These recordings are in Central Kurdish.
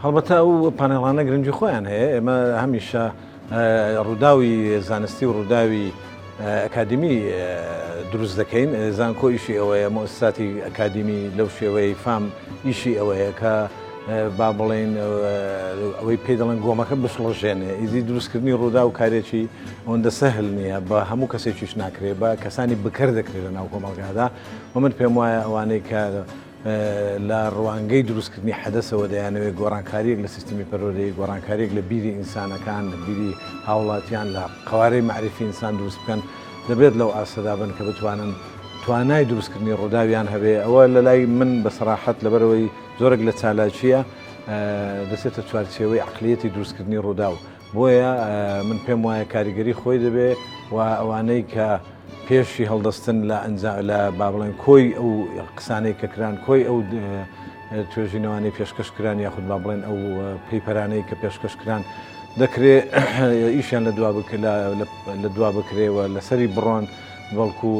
هەڵبەتە ئەو پانێڵانە گرنگی خۆیان هەیە، ئێمە هەمیشە ڕووداوی زانستی و ڕووداوی ئەکادیمی دروست دەکەین، زانکۆ ئیشی ئەوەیە مۆسساتی ئەکادیمی لەو شێوەیەی فام ئیشی ئەوەیە کە با بڵێین ئەوەی پێی دەڵێن گۆمەکە بشڵەژێنێ، ئیدی دروستکردنی ڕوودا و کارێکی ئەوەندە سەهل نییە بە هەموو کەسێکیش ناکرێ بە کەسانی بکەر دەکرێت لە ناو کۆمەڵگادا و من پێم وایە ئەوانەی کە لە ڕوانگەی دروستکردنی حەدەسەوە دەیانەوێت گۆڕانکارییەک لە سیستمی پەروەردەیی، گۆڕانکارییەک لە بیری ئینسانەکان، لە بیری هاوڵاتیان، لە قەوارەی مەعریفی ئینسان دروست بکەن، دەبێت لەو ئاستەدا بن کە بتوانن توانای دروستکردنی ڕووداویان هەبێت، ئەوە لە لای من بە سەراحەت لەبەرئەوەی زۆرێک لە چالاکییە دەچێتە چوارچێوەی عەقلیەتی دروستکردنی ڕووداو، بۆیە من پێم وایە کاریگەری خۆی دەبێ و ئەوانەی کە پێشی هەڵدەستن لە ئەنجا لە با بڵێن کۆی ئەو قسانەی کە کران کۆی ئەو توێژینەوانەی پێشکەش کران یاخود با بڵێن ئەو پەیپەرانەی کە پێشکەش کران دەکرێ ئیشیان لە دوا لە دوا بکرێەوە لەسەری بڕۆن بەڵکو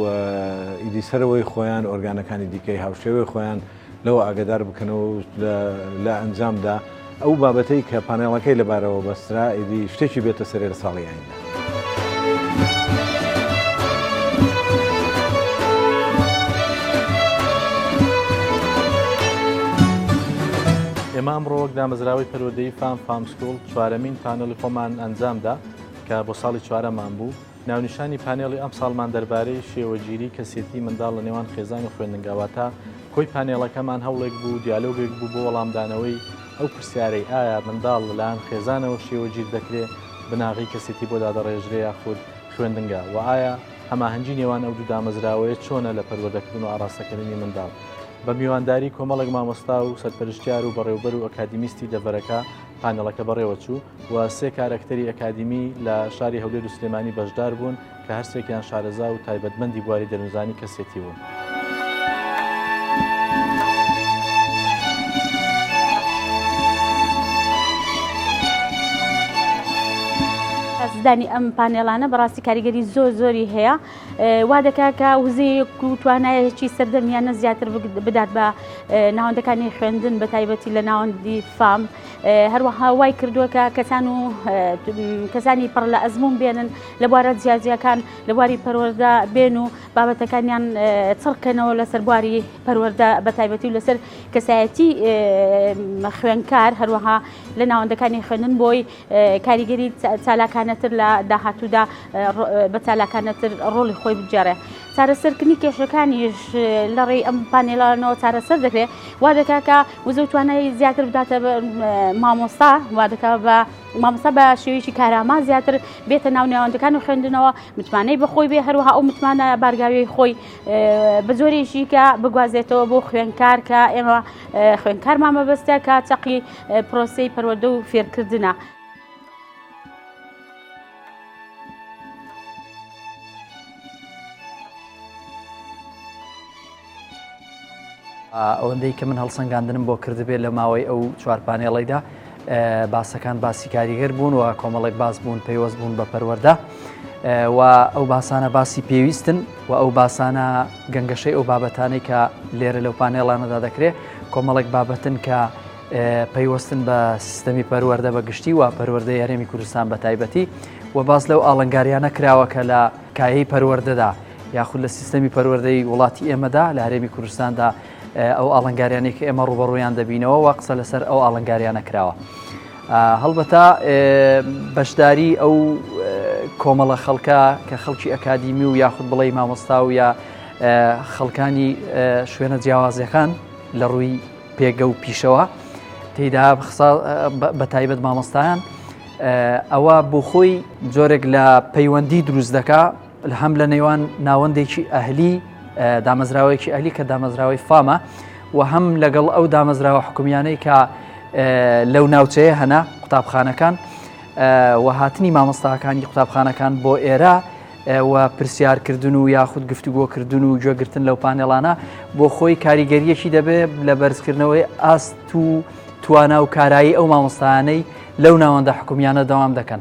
ئیدی سەرەوەی خۆیان ئۆرگانەکانی دیکەی هاوشێوەی خۆیان لەوە ئاگەدار بکەنەوە و لە ئەنجامدا ئەو بابەتەی کە پانێڵەکەی لەبارەوە بەسترا ئیدی شتێکی بێتە سەرێ لە ساڵی ئایندە. ئێمە ئەمڕۆ وەک دامەزراوەی پەروەردەی فام فام سکوڵ چوارەمین پانێڵی خۆمان ئەنجامدا کە بۆ ساڵی چوارەمان بوو. ناونیشانی پانێڵی ئەمساڵمان دەربارەی شێوەگیری کەسێتی منداڵ لە نێوان خێزان و خوێندنگا واتە کۆی پانێڵەکەمان هەوڵێک بوو دیالۆگێک بوو بۆ وەڵامدانەوەی ئەو پرسیارەی ئایا منداڵ لەلایەن خێزانەوە شێوەگیر دەکرێ بناغەی کەسێتی بۆ دادەڕێژرێ یاخود خوێندنگا و ئایا هەماهەنگی نێوان ئەو دوو دامەزراوەیە چۆنە لە پەروەردەکردن و ئاڕاستەکردنی منداڵ؟ بە میوانداری کۆمەڵێک مامۆستا و سەرپەرشتیار و بەڕێوبەر و ئەکادیمیستی دەڤەرەکە، پانێڵەکە بەڕێوەچوو و سێ کارەکتەری ئەکادیمی لە شاری هەولێر و سلێمانی بەشدار بوون کە هەرسێکیان شارەزا و تایبەتمەندی بواری دەروونزانی کەسێتی بوون. زدانی ئەم پانێلانە بەڕاستی کاریگەری زۆر زۆری هەیە وا دەکات کە وزەیەک و توانایەکی سەردەمیانە زیاتر بدات بە ناوەندەکانی خوێندن بە تایبەتی لە ناوەندی فام هەروەها وای کردووەکە کەسان و کەسانی پڕ لە ئەزمون بێنن لە بوارە جیاجیەکان لە بواری پەروەەردە بێن و بابەتەکانیان چڕکەنەوە لەسەر بواری پەروەەردە بە تایبەتی و لەسەر کەسایەتی خوێنکار هەروەها لە ناوەندەکانی خوێندن بۆی کاریگەری چالاکانەتر لە داهاتوودا بە چالاکانەتر ڕۆڵی خۆی بگێڕێ چارەسەرکردنی کێشەکانیش لە ڕێی ئەم پانێلانەوە چارەسەر دەکرێت وا دەکا کە وزە توانای زیاتر بداتە مامۆستا وا دەکا بە مامۆستا بە شێویی کاراما زیاتر بێتە ناو نێوەندەکان و خوێندنەوە متمانەی بەخۆی بێ هەروەها ئەو متمانە بارگاوی خۆی بە زۆرێکی کە بگوازێتەوە بۆ خوێنکار کە ئێمە خوێنکارمان مەبەستە کە چەقی پرۆسەی پەروەردە و فێرکردنە. ئەوەندەی کە من هەڵسەنگاندنم بۆ کردبێت لە ماوەی ئەو چوارپانێڵیدا باسەکان باسی کاریگەر بوون و کۆمەڵێک باس بوون پەیوەست بوون بە پەروەەردە و ئەو باسانە باسی پێویستن و ئەو باسانە گەنگەشەی ئەو بابەتانەی کە لێرە لەو پانێڵانەدا دەکرێت کۆمەڵێک بابەتن کە پەیوەستن بە سیستەمی پەروەەردە بە گشتی و پەروەەردە یارێمی کوردستان بە تایبەتی و باز لەو ئاڵنگاریانە کراوە کە لە کایەی پەروەەردەدا یاخود لە سیستەمی پەروەەردەی وڵاتی ئێمەدا لە هەرێمی کوردستاندا ئەو ئاڵنگاریانەی کە ئێمە ڕوبەڕویان دەبینەوە و قسە لەسەر ئەو ئاڵنگاریانە کراوە. هەڵبەتا بەشداری ئەو کۆمەڵە خەڵکە کە خەڵکی ئەکادیمی و یاخود بڵێ مامۆستا و یا خەڵکانی شوێنە جیاوازەکان لە ڕووی پێگە و پیشەوە تێدا بە تایبەت مامۆستایان ئەوە بۆ خۆی جۆرێک لە پەیوەندی دروست دەکا هەم لە نێوان ناوەندێکی ئەهلی دامەزراوەیەکی ئەهلی کە دامەزراوەی فامە و هەم لەگەڵ ئەو دامەزراوە حکومیانەی کە لەو ناوچەیە هەنا قوتابخانەکان و هاتنی مامۆستاکانی قوتابخانەکان بۆ ئێرە و پرسیارکردن و یاخود گفتوگۆکردن و گوێگرتن لەو پانێڵانە بۆ خۆی کاریگەریەکی دەبێت لە بەرزکردنەوەی ئاست و توانا و کارایی ئەو مامۆستانەی لەو ناوەندە حکومیانە دەوام دەکەن.